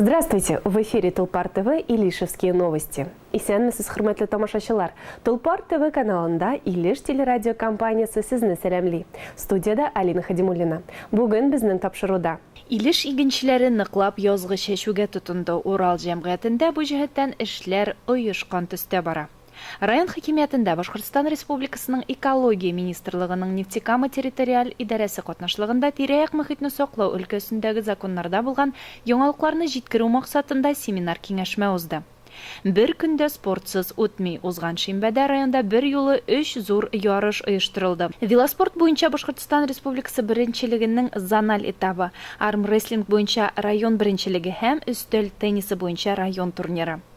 Здравствуйте! В эфире Тулпар ТВ и Лишевские новости. Исәнмесез, хөрмәтле тамашачылар! Тулпар ТВ каналында Илеш телерадиокомпаниясе сезне сәламли. Студиядә Алина Хадимуллина. Бүген безнең тапшыруда. Илеш игенчеләре ныклап язгы чәчүгә тотынды. Урал җәмгыятендә бу җәһәттән эшләр оешкан төстә бара. Район хакимиятендә Башкортстан Республикасының Экология министрлыгының Нефтекама территориаль идарәсе катнашлыгында тирә-як мохитне саклау өлкәсендәге законнарда булган яңалыкларны җиткерү максатында семинар-киңәшмә узды. Бер көн дә спортсыз үтми. Узган шимбәдә районда берьюлы өч зур ярыш оештырылды. Велоспорт буенча Башкортстан Республикасы беренчелегенең зональ этабы, армрестлинг буенча район беренчелеге һәм өстәл теннисы буенча район турниры.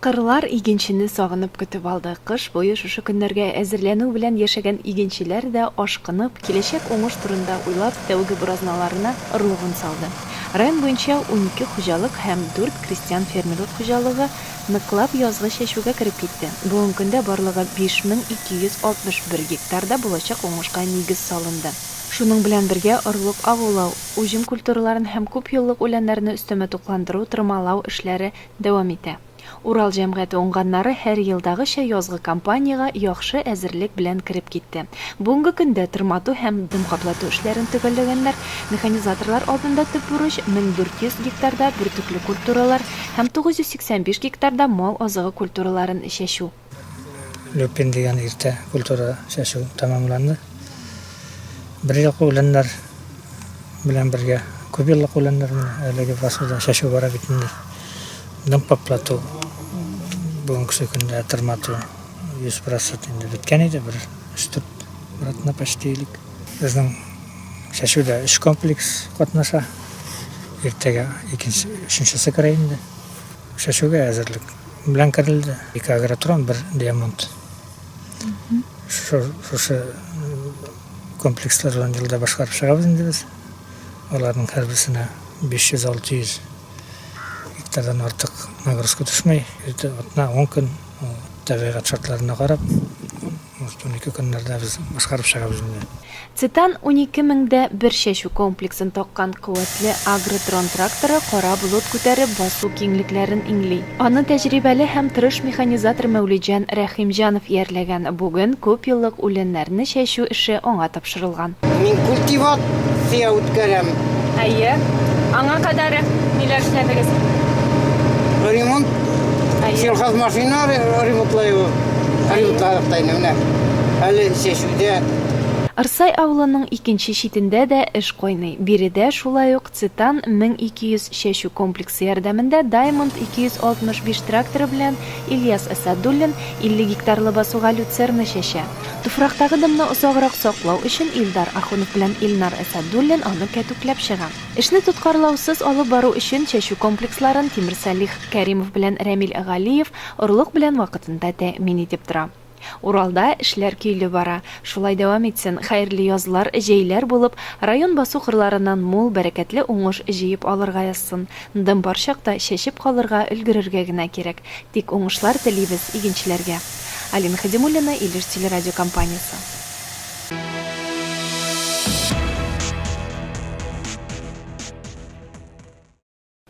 Кырлар игенчене сагынып көтеп алды. Кыш буе шушы көннәргә әзерләнү белән яшәгән игенчеләр дә, ашкынып, киләчәк уңыш турында уйлап, тәүге буразналарына орлыгын салды. Район буенча унике хуҗалык һәм дүрт крестьян-фермерлык хуҗалыгы ныклап язгы чәчүгә кереп китте. Бүгенге көндә барлыгы 5261 гектарда булачак уңышка нигез салынды. Шуның белән бергә орлык агулау, уҗым культураларын һәм күпьеллык үләннәрне өстәмә тукландыру, тырмалау эшләре Дәвам итә. Урал җәмгыяте уңганнары һәр елдагыча язгы кампаниягә яхшы әзерлек белән кереп китте. Бүгенге көндә тырмату һәм дым каплату эшләрен төгәлләгәннәр. Механизаторлар алдында төп бурыч, 1400 гектарда бөртекле культуралар һәм 985 гектарда мал азыгы культураларын чәчү. Люпин дигән иртә культура чәчү тәмамланды. Бер еллык үләннәр белән бергә күп еллык үләннәр менә әлеге фасылда чәчү бара бит инде. Дым каплату бүгенге көндә тырмату 100% инде беткән иде, бер 3-4 братна почти элек. Безнең чәчүдә өч комплекс катнаша. Иртәгә икенче, өченчесе керә инде. Чәчүгә әзерлек. белән керелде. Ике агротрон, бер диамант. Шушы комплекслар белән елда башкарып чыгабыз инде без. Аларның һәрберсенә 500-600 гектардан артык нагрузка төшмәй. Атна 10 көн табигать шартларына карап, Может, унике көннәрдә без башкарып чыгабыз инде. Цитан унике меңдә бер чәчү комплексын таккан куәтле Агротрон тракторы кара болыт күтәреп басу киңлекләрен иңли. Аны тәҗрибәле һәм тырыш механизатор Мәүлетҗан Рәхимҗанов иярләгән, бүген күпьеллык үләннәрне чәчү эше аңа тапшырыла. тапшырылган. Мин культивация үткәрәм. Әйе. Аңа кадәр ниләр эшләдегез? Ремонт. Әйе. Сельхозмашина ремонтлыйбыз. Ремонтладык та инде менә. Әле чәчүдә. Ырсай авылының икенче читендә дә эш кайный. Биредә шулай ук Цитан 1200 чәчү комплексы ярдәмендә Даймонд 265 тракторы белән Ильяс Әсадуллин 50 гектарлы басуга люцерна чәчә. Туфрактагы дымны озаграк саклау өчен Илдар Ахунов белән Илнар Әсәдуллин аны кәтүкләп чыга. Эшне тоткарлаусыз алып бару өчен чәчү комплексларын Тимер Салих Кәримов белән Рәмил Галиев орлык белән вакытында тәэмин итеп тора. Уралда эшләр көйле бара. Шулай дәвам итсен, хәерле язлар, җәйләр булып, район басу кырларыннан мул, бәрәкәтле уңыш җыеп алырга язсын. Дым бар чакта чәчеп калырга, өлгерергә генә кирәк. Тик уңышлар телибез игенчеләргә. Алина Хәдимуллина, Илеш телерадиокомпаниясе.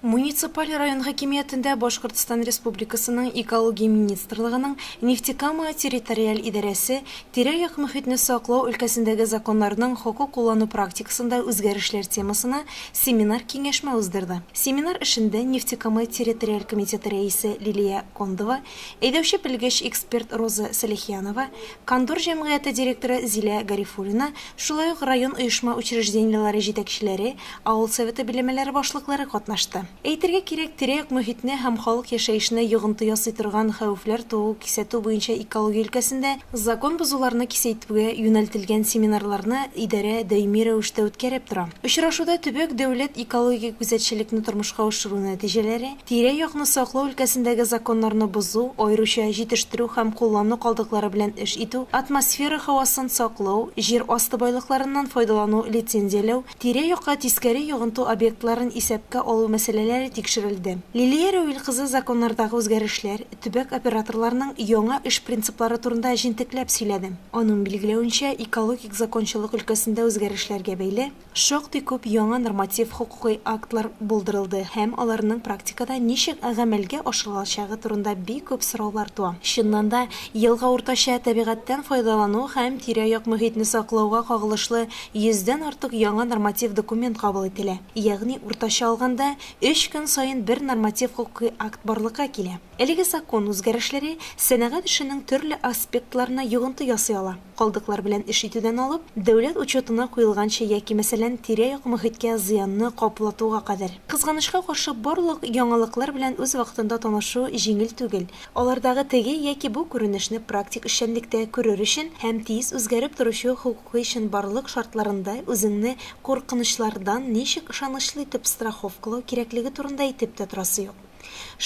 Муниципаль район хакимиятендә Башкортстан Республикасының Экология министрлыгының Нефтекама территориаль идарәсе тирә-як мөхитне саклау өлкәсендәге законнарның хокук куллану практикасында үзгәрешләр темасына семинар-киңәшмә уздырды. Семинар эшендә Нефтекама территориаль комитеты рәисе Лилия Кондова, Әйдәүче белгеч эксперт Роза Сәлихянова, Кондор җәмгыяте директоры Зилә Гарифуллина, шулай ук район оешма учреждениеләре җитәкчеләре, авыл советы биләмәләре башлыклары катнашты. Әйтергә кирәк, тирә-як мохитне һәм халык яшәешенә йогынты ясый торган хәвефләр туу, кисәтү буенча экология өлкәсендә закон бозуларны кисәйтүгә юнәлтелгән семинарларны идарә даими рәвештә үткәреп тора. Очрашуда төбәк дәүләт экологик күзәтчелекне тормышка ашыру нәтиҗәләре, Тирә-якны саклау өлкәсендәге законнарны бозу, аеруча җитештерү һәм куллану калдыклары белән эш итү, атмосфера һавасын саклау, җир асты байлыкларыннан файдалану, лицензияләү, тирә-якка тискәре йогынту объектларын исәпкә алу мәсьәләләре тикшерелде. Лилия Рәвил кызы законнардагы үзгәрешләр, төбәк операторларының яңа эш принциплары турында җентекләп сөйләде. Аның билгеләвенчә, экологик закончалык өлкәсендә үзгәрешләргә бәйле, Шактый күп яңа норматив хокукый актлар булдырылды һәм аларның практикада ничек гамәлгә ашырылачагы турында бик күп сораулар туа. Чыннан да, елга уртача табигатьтән файдалану һәм тирә-як мохитне саклауга кагылышлы йөздән артык яңа норматив документ кабул ителә. Ягъни уртача алганда, өч көн саен бер норматив хокукый акт барлыкка килә. Әлеге закон үзгәрешләре сәнәгать эшенең төрле аспектларына йогынты ясый ала. Калдыклар белән эш итүдән алып, дәүләт учетына куелганча яки, мәсәлән, тирә-як мохиткә зыянны каплатуга кадәр. Кызганычка каршы, барлык яңалыклар белән үз вакытында танышу җиңел түгел. Алардагы теге яки бу күренешне практик эшчәнлектә күрер өчен һәм тиз үзгәреп торучы хокукый чынбарлык шартларында үзеңне куркынычлардан ничек ышанычлы итеп страховкалау кирәклеге турында әйтеп тә торасы юк.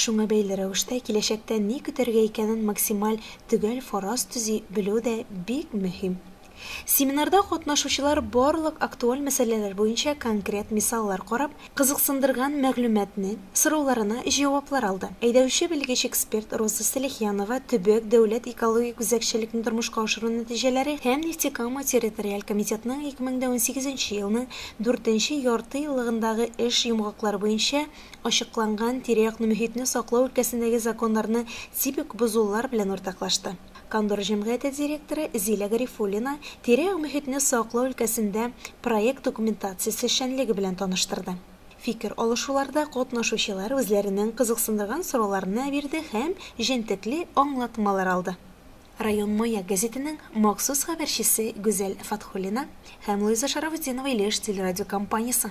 Шуңа бәйле рәвештә киләчәктә ни көтәргә икәнен максималь төгәл фараз төзи белү дә бик мөһим. Семинарда катнашучылар барлык актуаль мәсьәләләр буенча конкрет мисаллар карап, кызыксындырган мәгълүматны, сорауларына җаваплар алды. Әйдәүче белгеч-эксперт Роза Сәлихянова Төбәк дәүләт экологик үзәкчелекне тормышка ашыру нәтиҗәләре һәм Нефтекама территориаль комитетының 2018 елның дүртенче яртыеллыгындагы эш йомгаклары буенча ачыкланган тирә-якны мөхитне саклау өлкәсендәге законнарны типик бозулар белән уртаклашты. Кондор җәмгыяте директоры Зилә Гарифуллина тирә-як мөхитне саклау өлкәсендә проект документациясе эшчәнлеге белән таныштырды. Фикер алышуларда катнашучылар үзләренең кызыксындырган сорауларны бирде һәм җентекле аңлатмалар алды. Район Маяк гәзитенең махсус хәбәрчесе Гүзәл Фатхуллина һәм Луиза Шарафутдинова Илеш телерадиокомпаниясе.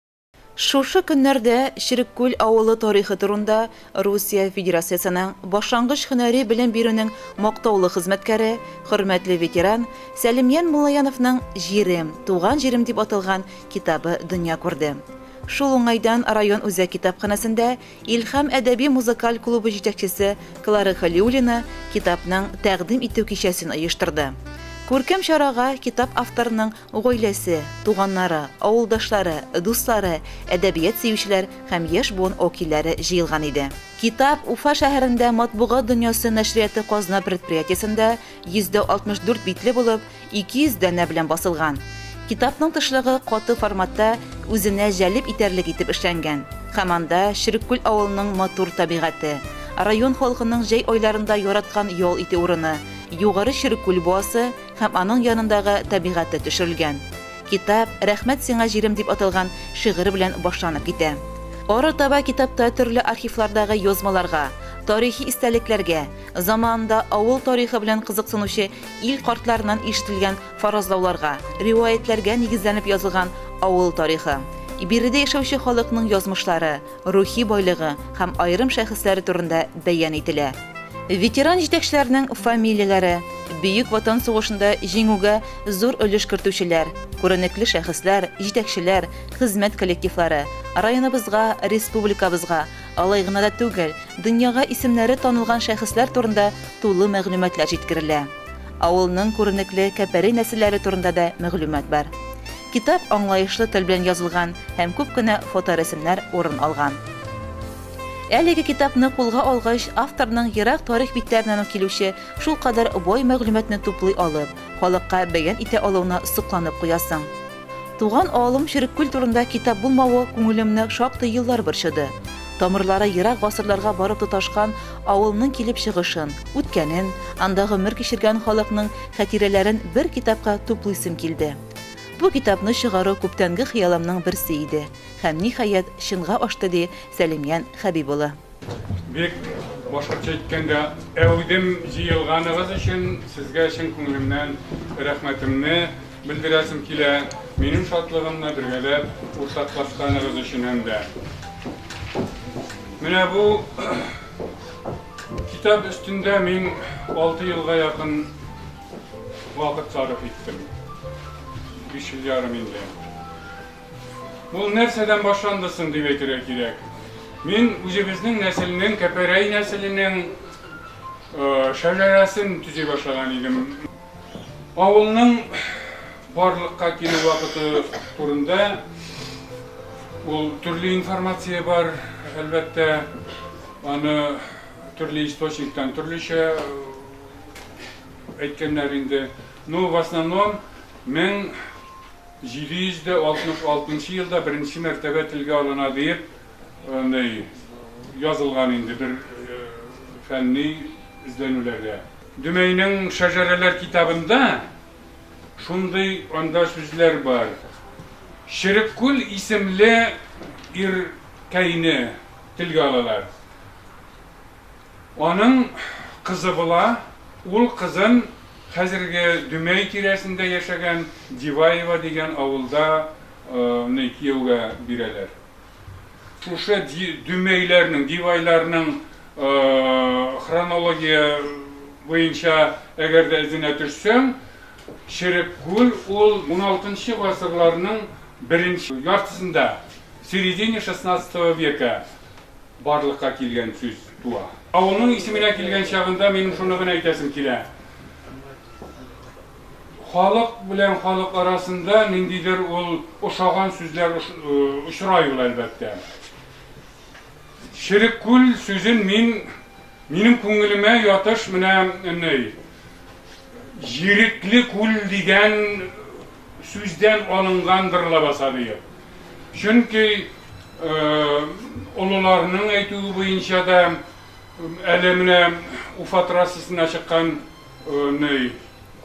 Шушы көннәрдә Череккүл авылы тарихы турында Русия Федерациясенең башлангыч һөнәри белем бирүнең мактаулы хезмәткәре, хөрмәтле ветеран Сәлимҗан Муллаяновның Җирем, туган җирем дип аталган китабы дөнья күрде. Шул уңайдан район үзәк китапханәсендә Илһам әдәби-музыкаль клубы җитәкчесе Клара Хәлиуллина китапның тәкъдим итү кичәсен оештырды. Күркәм чарага китап авторының Гаиләсе, туганнары, авылдашлары, дуслары, әдәбият сөючеләр һәм яшь буын вәкилләре җыелган иде. Китап Уфа шәһәрендә Матбугат дөньясы нәшрияты казна предприятиесендә 164 битле булып, 200 данә белән басылган. Китапның тышлыгы каты форматта үзенә җәлеп итәрлек итеп эшләнгән һәм анда Череккүл авылының матур табигате, район халкының җәй айларында яраткан ял итү урыны, Югары Череккүл буасы, һәм аның янындагы табигате төшерелгән. Китап Рәхмәт сиңа, җирем дип аталган шигырь белән башланып китә. Арытаба китапта төрле архивлардагы язмаларга, тарихи истәлекләргә, заманында авыл тарихы белән кызыксынучы ил картларыннан ишетелгән фаразлауларга, риваятьләргә нигезләнеп язылган авыл тарихы, биредә яшәүче халыкның язмышлары, рухи байлыгы һәм аерым шәхесләре турында бәян ителә. Ветеран җитәкчеләрнең фамилияләре, Бөек Ватан сугышында җиңүгә зур өлеш кертүчеләр, күренекле шәхесләр, җитәкчеләр, хезмәт коллективлары, районыбызга, республикабызга, алай гына да түгел, дөньяга исемнәре танылган шәхесләр турында тулы мәгълүматлар җиткерелә. Авылның күренекле Кәпәри нәселләре турында да мәгълүмат бар. Китап аңлаешлы тел белән язылган һәм күп кенә фоторәсемнәр урын алган. Әлеге китапны кулга алгач, авторның ерак тарих битләреннән үк килүче шулкадәр бай мәгълүматны туплый алып, халыкка бәян итә алуына сокланып куясың. Туган авылым Череккүл турында китап булмавы күңелемне шактый еллар борчыды. Тамырлары ерак гасырларга барып тоташкан авылның килеп чыгышын, үткәнен, анда гомер кичергән халыкның хәтирәләрен бер китапка туплыйсым килде. Бу китапны чыгару күптәнге хыялымның берсе иде һәм, ниһаять, чынга ашты, ди Сәлимҗан Хәбиб улы. Бик башкортча әйткәндә әүдем җыелганыгыз өчен сезгә чын күңелемнән рәхмәтемне белдерәсем килә, минем шатлыгымны бергәләп уртаклашканыгыз өчен һәм дә. Менә бу китап өстендә мин алты елга якын вакыт сарыф иттем. Биш ел ярым инде. Ул нәрсәдән башланды соң дип әйтергә кирәк. Мин үзебезнең нәселнең, Кәпәрәй нәселенең шәҗәрәсен төзи башлаган идем. Авылның барлыкка килү вакыты турында ул төрле информация бар, әлбәттә, аны төрле источниктан төрлечә әйткәннәр инде. Ну, в основном, 1766 нчы елда беренче мәртәбә телгә алына диеп, андый, язылган инде бер фәнни эзләнүләрдә. Дөмәйнең Шәҗәрәләр китабында шундый анда сүзләр бар, Череккүл исемле ир кәйне телгә алалар. Аның кызы була, ул кызын хәзерге Дөмәй тирәсендә яшәгән Диваево дигән авылда ны кияүгә бирәләр. Шушы Дөмәйләрнең, Дивайларның хронология буенча әгәр дә эзенә төшсәң, Череккүл ул уналтынчы гасырларның беренче яртысында, середине шестнадцатого века, барлыкка килгән сүз туа. Авылның исеменә килгән чагында минем шуны гына әйтәсем килә, халык белән халык арасында ниндидер ул ошаган сүзләр очрай ул, әлбәттә. Череккүл сүзен мин, минем күңелемә ятыш менә ни, Җирекле күл дигән Сүздән алынгандыр лабаса бөек. Чөнки олыларның әйтүе буенча да әле менә Уфа трассасына чыккан ней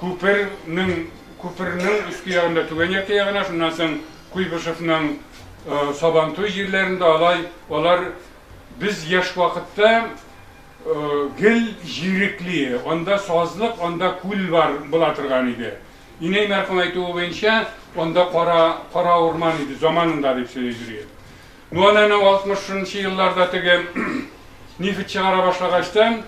күпернең күпернең өске ягында түбән якты ягына, шуннан соң Куйбышевның Сабантуй җирләрендә алай алар без яшь вакытта гел җирекле, анда сазлык, анда күл бар була торган иде. Инәй мәрхүм әйтүе буенча, анда кара, кара урман иде, заманында дип сөйли Зөриә. Ну аны әнә 60-нчы елларда теге нефть чыгара башлагачтан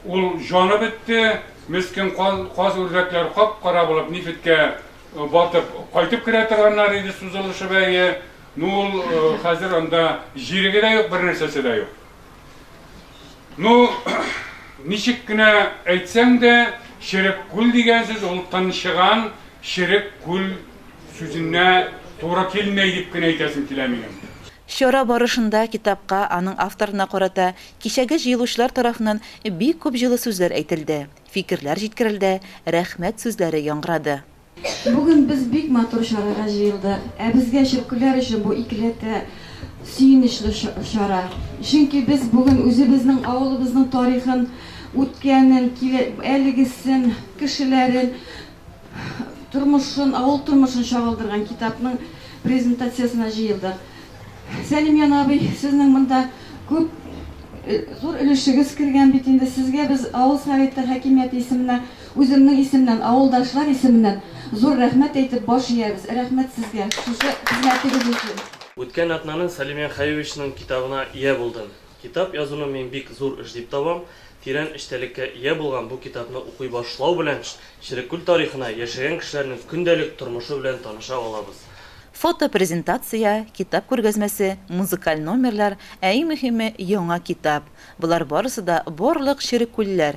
ул җаны бетте, мескен каз үрдәкләр кап-кара булып нефтькә э, батып кайтып керә торганнар иде сузылышып әйе. Ну ул э, хәзер анда җиреге дә юк, бернәрсәсе дә юк. Ну, ничек кенә әйтсәң дә, черек күл дигән сүз ул тынчыган черек күл сүзенә туры килмәй дип кенә әйтәсем килә минем. Чара барышында китапка, аның авторына карата кичәге җыелучылар тарафыннан бик күп җылы сүзләр әйтелде, фикерләр җиткерелде, рәхмәт сүзләре яңгырады. Бүген без бик матур чарага җыелдык. Ә безгә, чөркүләр өчен бу икеләтә сөенечле чара. Чөнки без бүген үзебезнең авылыбызның тарихын, үткәнен, әлегесен, кешеләрен, тормышын, авыл тормышын чагылдырган китапның презентациясенә җыелдык. Сәлимҗан абый, сезнең монда күп, зур өлешегез кергән бит инде. Сезгә без авыл Советы хакимияте исеменә Үземнең исемнән, авылдашлар исеменнән зур рәхмәт әйтеп баш иябез. Рәхмәт сезгә шушы хезмәтегез өчен. Үткән атнаның Сәлим Яхаевичның китабына ия булдым. Китап язуны мин бик зур эш дип табам. Тирән эчтәлеккә ия булган бу китапны укый башлау белән Шерекүл тарихына, яшәгән кешеләрнең көндәлек тормышы белән таныша алабыз. Фотопрезентация, китап күргәзмәсе, музыкаль номерлар, ә иң мөһиме, яңа китап. Болар барысы да барлык шерекүлләр,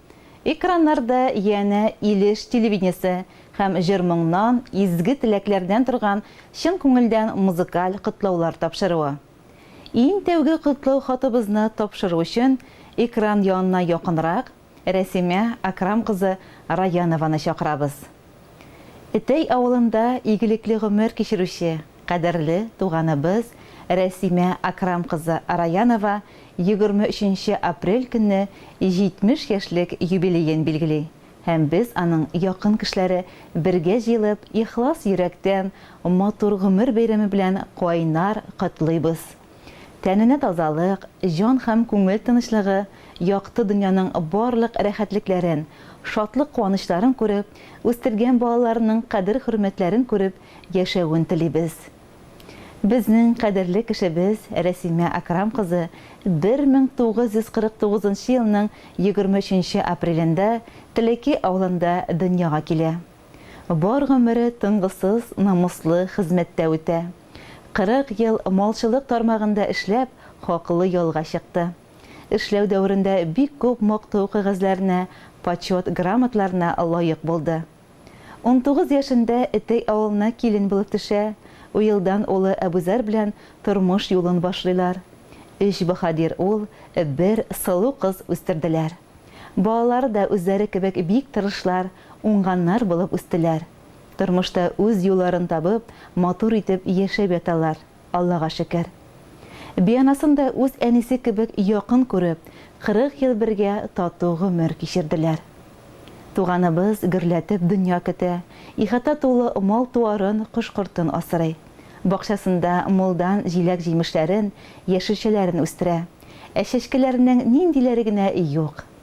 Экраннарда янә Илеш телевидениесе һәм җыр-моңнан, изге теләкләрдән торган чын күңелдән музыкаль котлаулар тапшыруы. Иң тәүге котлау хатыбызны тапшыру өчен экран янына якынрак Рәсимә Акрам кызы Раянованы чакырабыз. Этәй авылында игелекле гомер кичерүче, Кадерле туганыбыз Рәсимә Акрам кызы Араянова егерме өченче апрель көнне 70 яшьлек юбилеен билгели һәм без аның якын кешеләре бергә җыелып ихлас йөрәктән матур гомер бәйрәме белән кайнар котлыйбыз. Тәненә тазалык, җан һәм күңел тынычлыгы, якты дөньяның барлык рәхәтлекләрен, шатлык-куанычларын күреп, үстергән балаларының кадер-хөрмәтләрен күреп яшәвен телибез. Безнең кадерле кешебез Рәсимә Акрам кызы 1949 нчы елның 23 нче апрелендә Телеки авылында дөньяга килә. Бар гомере тынгысыз, намуслы хезмәттә үтә. 40 ел малчылык тармагында эшләп, хаклы ялга чыкты. Эшләү дәверендә бик күп мактау кәгазьләренә, почет грамотларына лаек булды. Унтугыз яшендә Этей авылына килен булып төшә, уелдан улы Әбүзәр белән тормыш юлын башлыйлар. Өч баһадир ул, бер сылу кыз үстерделәр. Балалары да үзләре кебек бик тырышлар, уңганнар булып үстеләр. Тормышта үз юлларын табып, матур итеп яшәп яталар. Аллага шөкер. Бианасын да үз әнисе кебек якын күреп, 40 ел бергә тату гомер кичерделәр. Туганыбыз гөрләтеп дөнья көтә, ихата тулы мал-туарын, кош-кортын асрый. Бакчасында мулдан җиләк-җимешләрен, яшелчәләрен үстерә. Ә чәчкәләренең ниндиләре генә юк!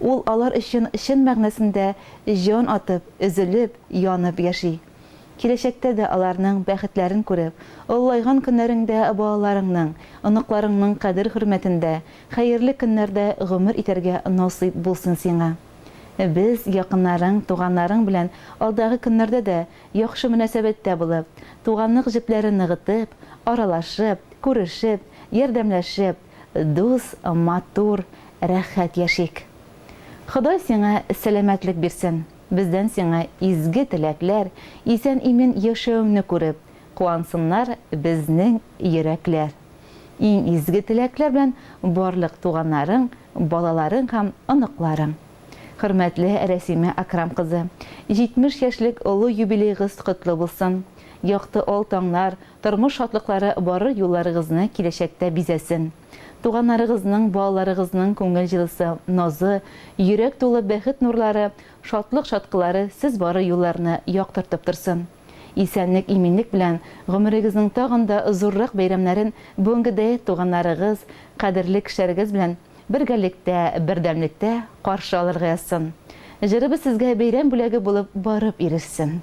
Ул алар өчен чын мәгънәсендә җан атып, өзелеп, янып яши. Киләчәктә дә аларның бәхетләрен күреп, олылайган көннәреңдә балаларыңның, оныкларыңның кадер-хөрмәтендә хәерле көннәрдә гомер итәргә насыйп булсын сиңа. Без, якыннарың, туганнарың белән алдагы көннәрдә дә яхшы мөнәсәбәттә булып, туганлык җепләрен ныгытып, аралашып, күрешеп, ярдәмләшеп, дус, матур, рәхәт яшик. Ходай сиңа сәламәтлек бирсен, бездән сиңа изге теләкләр, исән-имен яшәүеңне күреп, куансыннар безнең йөрәкләр. Иң изге теләкләр белән барлык туганнарың, балаларың һәм оныкларың. Хөрмәтле Рәсимә Акрам кызы, 70 яшьлек олы юбилейгыз котлы булсын! Якты ал таңнар, Тормыш шатлыклары барыр юлларыгызны киләчәктә бизәсен. Туганнарыгызның, балаларыгызның күңел җылысы, назы, йөрәк тулы бәхет нурлары, шатлык чаткылары сез барыр юлларны яктыртып торсын. Исәнлек-иминлек белән гомерегезнең тагын да зуррак бәйрәмнәрен бүгенгедәй туганнарыгыз, кадерле кешеләрегез белән бергәлектә, бердәмлектә каршы алырга язсын. Җырыбыз сезгә бәйрәм бүләге булып барып ирешсен.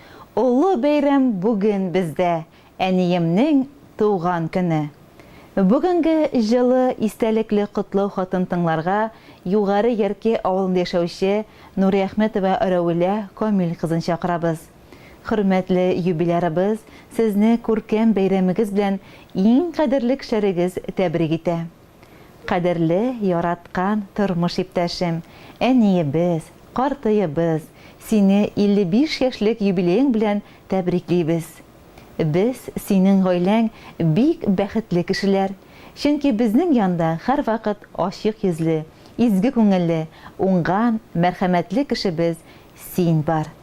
Олы бәйрәм бүген бездә, әниемнең туган көне. Бүгенге җылы, истәлекле котлау хатын тыңларга Югары Ярке авылында яшәүче Нуриәхмәтова Рәүлә Камил кызын чакырабыз. Хөрмәтле юбилярыбыз сезне күркәм бәйрәмегез белән иң кадерле кешеләрегез тәбрик итә. Кадерле, яраткан тормыш иптәшем, әниебез, картыебыз, сине 55 яшьлек юбилеең белән тәбриклибез. Без, синең гаиләң бик бәхетле кешеләр, чөнки безнең янда һәрвакыт ачык йөзле, изге күңелле, уңган, мәрхәмәтле кешебез син бар.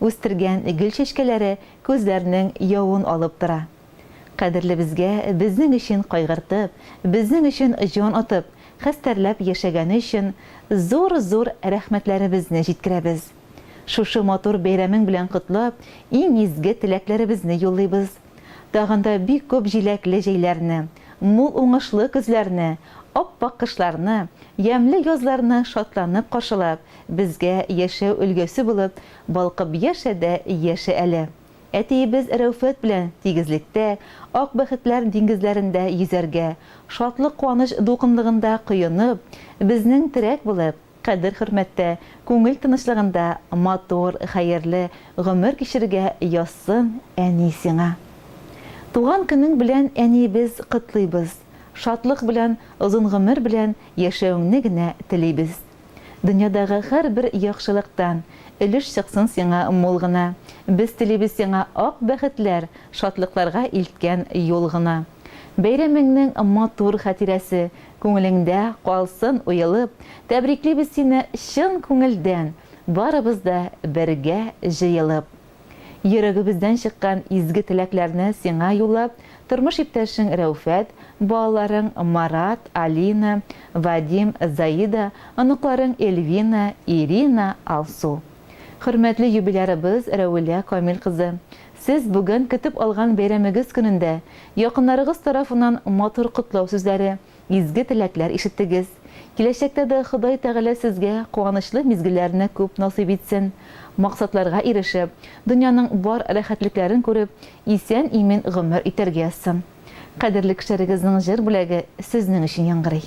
Үстергән гөл чәчкәләре күзләрнең явын алып тора. Кадерлебезгә безнең өчен кайгыртып, безнең өчен җан атып, хәстәрләп яшәгәне өчен зур-зур рәхмәтләребезне җиткерәбез. Шушы матур бәйрәмең белән котлап, иң изге теләкләребезне юллыйбыз. Тагын да бик күп җиләкле җәйләрне, мул уңышлы көзләрне, ап-ак кышларны, ямьле язларны шатланып каршылап, безгә яшәү өлгесе булып балкып яшә дә яшә әле. Әтиебез Рәүфәт белән тигезлектә, ак бәхетләр диңгезләрендә йөзәргә, шатлык-куаныч дулкынлыгында коенып, безнең терәк булып, кадер-хөрмәттә, күңел тынычлыгында матур, хәерле гомер кичерергә язсын, әни, сиңа. Туган көнең белән, әниебез, котлыйбыз, шатлык белән, озын гомер белән яшәвеңне генә телибез. Дөньядагы һәрбер яхшылыктан өлеш чыксын сиңа мул гына. Без телибез сиңа ак бәхетләр, шатлыкларга илткән юл гына. Бәйрәмеңнең матур хатирәсе күңелеңдә калсын уелып, тәбриклибез сине чын күңелдән, барыбыз да бергә җыелып. Йөрәгебездән чыккан изге теләкләрне сиңа юллап, тормыш иптәшең Рәүфәт, балаларың Марат, Алина, Вадим, Заида, оныкларың Эльвина, Ирина, Алсу. Хөрмәтле юбилярыбыз Рәвилә Камил кызы, Сез бүген көтеп алган бәйрәмегез көнендә якыннарыгыз тарафыннан матур котлау сүзләре, изге теләкләр ишеттегез. Киләчәктә дә Ходай Тәгалә сезгә куанычлы мизгелләрне күп насыйп итсен. Максатларга ирешеп, дөньяның бар рәхәтлекләрен күреп, исән-имин гомер итәргә язсын. Кадерле кешеләрегезнең җыр бүләге сезнең өчен яңгырый.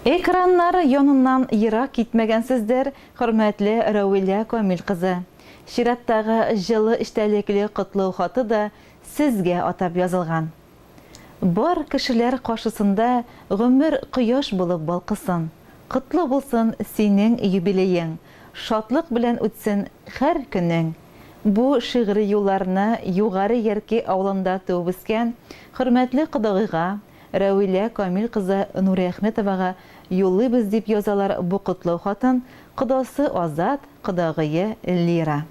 Экраннар яныннан ерак китмәгәнсездер, хөрмәтле Рәвилә Камил кызы. Чираттагы җылы эчтәлекле котлау хаты да Сезгә атап язылган. Бар кешеләр каршысында гомер кояш булып балкысын. Котлы булсын синең юбилеең, шатлык белән үтсен хәр көнең. Бу шигъри юлларны Югары Ярки авылында туып-үскән хөрмәтле кодагыйга, Рәвилә Камил кызы Нуриәхметовага юллыйбыз дип язалар бу котлау хатын, кодасы Азат, кодагые Лира.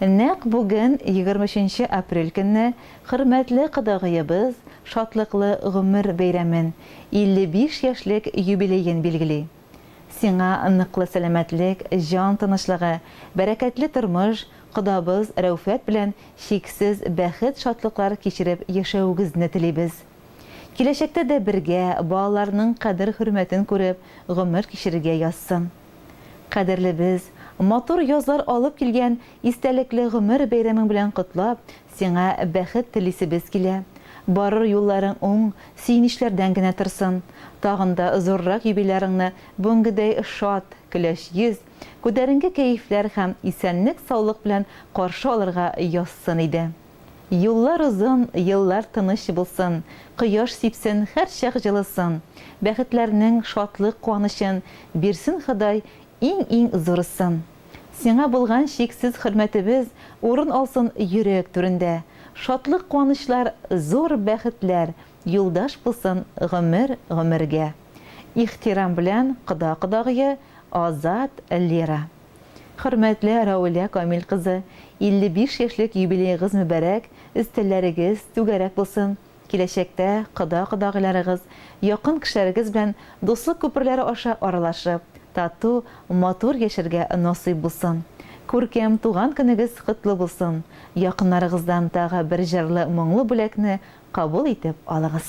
Нәкъ бүген, егерме өченче апрель көнне хөрмәтле кодагыебыз шатлыклы гомер бәйрәмен, 55 яшьлек юбилеен билгели. Сиңа ныклы сәламәтлек, җан тынычлыгы, бәрәкәтле тормыш, кодабыз Рәүфәт белән чиксез бәхет-шатлыклар кичереп яшәвегезне телибез. Киләчәктә дә бергә, балаларның кадер-хөрмәтен күреп, гомер кичерергә язсын. Кадерлебез, матур язлар алып килгән истәлекле гомер бәйрәмең белән котлап, Сиңа бәхет телисебез килә, барыр юлларың уң, сөенечләрдән генә торсын, тагын да зуррак юбилярыңны бүгенгедәй шат, көләч йөз, күтәренке кәефләр һәм исәнлек-саулык белән каршы алырга язсын иде. Юллар озын, еллар тыныч булсын, кояш сипсен, һәрчак җылысын, бәхетләрнең, шатлык-куанычын бирсен Ходай Иң-иң зурысын. Сиңа булган чиксез хөрмәтебез урын алсын йөрәк түрендә. Шатлык-куанычлар, зур бәхетләр юлдаш булсын гомер-гомергә. Ихтирам белән кода кодагые Азат Лера. Хөрмәтле Рәүлә Камил кызы, 55 яшьлек юбилеегыз мөбарәк, өстәлләрегез түгәрәк булсын! Киләчәктә кода-кодагыйларыгыз, якын кешеләрегез белән дуслык күперләре аша аралашып, тату, матур яшәргә насыйп булсын! Күркәм туган көнегез котлы булсын! Якыннарыгыздан тагы бер җырлы-моңлы бүләкне кабул итеп алыгыз!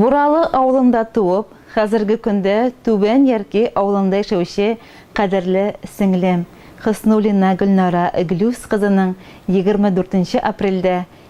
Буралы авылында туып, хәзерге көндә Түбән Ярки авылында яшәүче кадерле сеңлем Хөснуллина Гөлнара Глюс кызының 24 апрельдә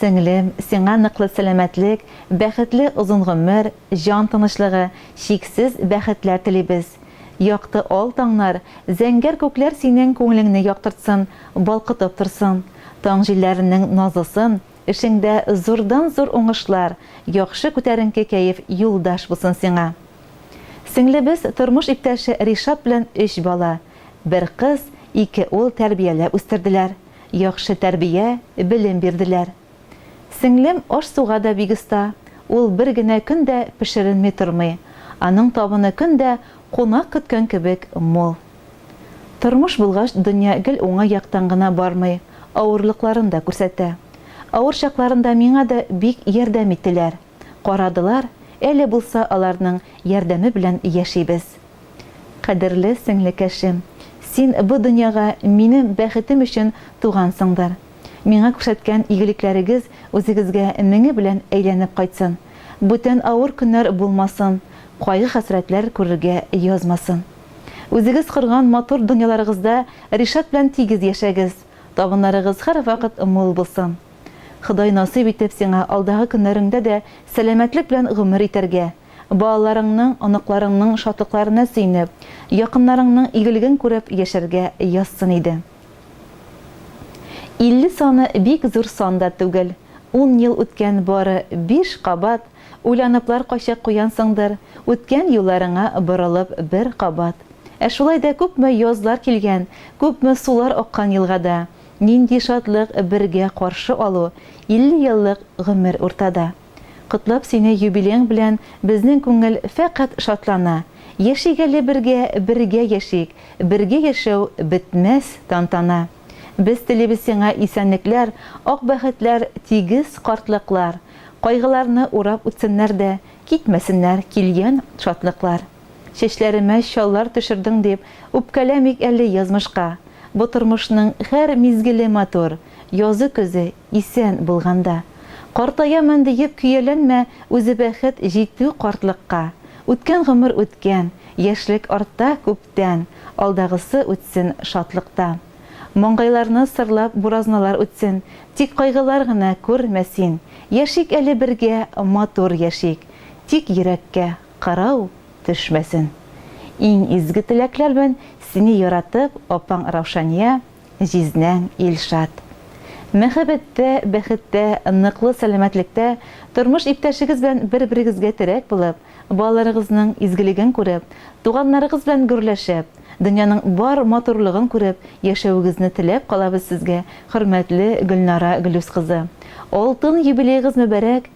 Сеңлем, сиңа ныклы сәламәтлек, бәхетле озын гомер, җан тынычлыгы, чиксез бәхетләр телибез. Якты ал таңнар, зәңгәр күкләр синең күңелеңне яктыртсын, балкытып торсын. Таң җилләренең назлысын, эшеңдә зурдан-зур уңышлар, яхшы күтәренке кәеф юлдаш булсын сиңа. Сеңлебез тормыш иптәше Ришат белән өч бала, бер кыз, ике ул тәрбияләп үстерделәр. Яхшы тәрбия, белем бирделәр. Сеңлем аш-суга да бик оста, ул бер генә көн дә пешеренми тормый, аның табыны көн дә кунак көткән кебек мул. Тормыш булгач, дөнья гел уңай яктан гына бармый, авырлыкларын да күрсәтә. Авыр чакларында миңа да бик ярдәм иттеләр. карадылар, әле булса аларның ярдәме белән яшибез. Кадерле сеңлекәшем, син бу дөньяга минем бәхетем өчен тугансыңдыр. Миңа күрсәткән игелекләрегез үзегезгә меңе белән әйләнеп кайтсын, бүтән авыр көннәр булмасын, кайгы-хәсрәтләр күрергә язмасын. Үзегез корган матур дөньяларыгызда Ришат белән тигез яшәгез, табыннарыгыз һәрвакыт мул булсын. Ходай насыйп итеп сиңа алдагы көннәреңдә дә сәламәтлек белән гомер итәргә, балаларыңның, оныкларыңның шатлыкларына сөенеп, якыннарыңның игелеген күреп яшәргә язсын иде. 50 саны бик зур сан да түгел, ун ел үткән бары биш кабат, уйланыплар кайчак куянсыңдыр, үткән юлларыңа борылып бер кабат. Ә шулай да күпме язлар килгән, күпме сулар аккан елгада. Нинди шатлык бергә каршы алу, 50 еллык гомер уртада. Котлап сине юбилеең белән безнең күңел фәкать шатлана. Яшик әле бергә, бергә яшик, бергә яшәү бетмәс тантана. Без телибез сиңа исәнлекләр, ак бәхетләр, тигез картлыклар. Кайгыларны урап үтсеннәр дә, китмәсеннәр килгән шатлыклар. Чәчләремә чаллар төшердең дип, Үпкәләмик әле язмышка. Бу тормышның һәр мизгеле матур, Язы-көзе исән булганда. Картаямын диеп көяләнмә, Үзе бәхет җитү картлыкка. Үткән гомер үткән, яшьлек артта күптән, Алдагысы үтсен шатлыкта. Маңгайларны сырлап буразналар үтсен, Тик кайгылар гына күрмә син. Яшик әле бергә, матур яшик, Тик йөрәккә Кырау төшмәсен. Иң изге теләкләр белән сине яратып апаң Раушания, җизнәң Илшат. Мәхәббәттә, бәхеттә, ныклы сәламәтлектә, тормыш иптәшегез белән бер-берегезгә терәк булып, балаларыгызның изгелеген күреп, туганнарыгыз белән гөрләшеп, дөньяның бар матурлыгын күреп яшәвегезне теләп калабыз сезгә, хөрмәтле Гөлнара Гөлүс кызы. Алтын юбилеегыз мөбарәк,